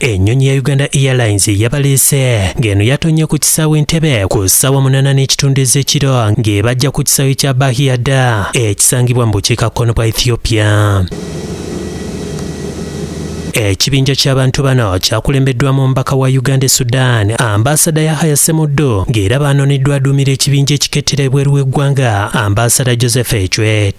Ennyonyi ya Uganda Airlines yabaleese ng'eno yatonye ku kisaawe Ntebe ku ssaawa munaana n'ekitundu ez'ekiro ng'ebajja ku kisaawe kya Bahiyada ekisangibwa mu bukiika kkono bwa Ethiopia. Ekibinja ky'abantu bano kyakulembeddwamu omubaka wa Uganda e Sudan, ambaasada ya Haya Semuddo ng'era baanoneddwa aduumira ekibinja ekikettera ebweru w'eggwanga, ambaasada Joseph Echwet.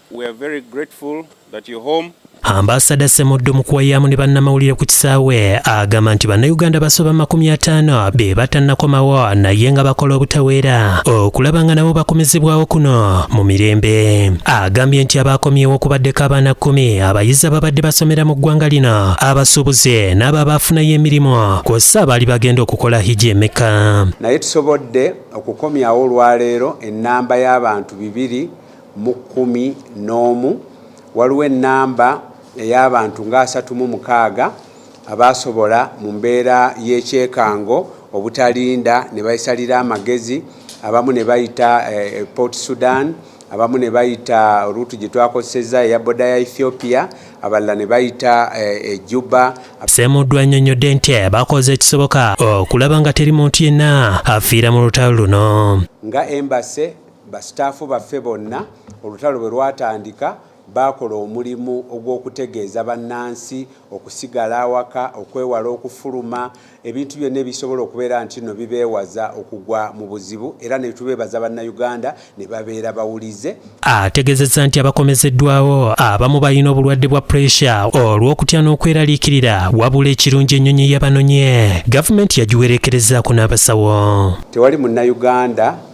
We are very grateful that you're home. Ambasada Semuddu mu kuwayaamu ne bannamawulire ku kisaawe agamba nti bannayuganda basoba makumi ataano be batannakomawo naye nga bakola obutaweera okulaba nga nabo bakomezebwawo kuno mu mirembe. Agambye nti abaakomyewo kubaddeko abaana kkumi abayizi ababadde basomera mu ggwanga lino abasuubuzi n'abo abaafunayo emirimu kw'ossa abaali bagenda okukola hiji emeka. Naye tusobodde okukomyawo olwaleero ennamba y'abantu bibiri mu kkumi n'omu, waliwo ennamba ey'abantu nga asatu mu mukaaga abaasobola mu mbeera y'ekyekango obutalinda ne beesalira amagezi, abamu ne bayita e Port Sudan, abamu ne bayita ruutu gye twakozesezza eya boda ya Ethiopia, abalala ne bayita e Juba. Ssemuddu annyonnyodde nti bakoze ekisoboka okulaba nga teri muntu yenna afiira mu lutalo luno. Nga Embassy, Basitaafu baffe bonna olutalo bwe lwatandika baakola omulimu ogw'okutegeeza bannansi okusigala awaka, okwewala okufuluma, ebintu byonna ebisobola okubeera nti no bibeewaza okugwa mu buzibu era ne tubeebaza Bannayuganda ne babeera bawulize. Ategezezza nti abakomezeddwawo abamu balina obulwadde bwa Pressure olw'okutya n'okweraliikirira wabula ekirungi ennyonyi yabanonye Gavumenti yagiwereekerezaako n'abasawo. Tewali Munnayuganda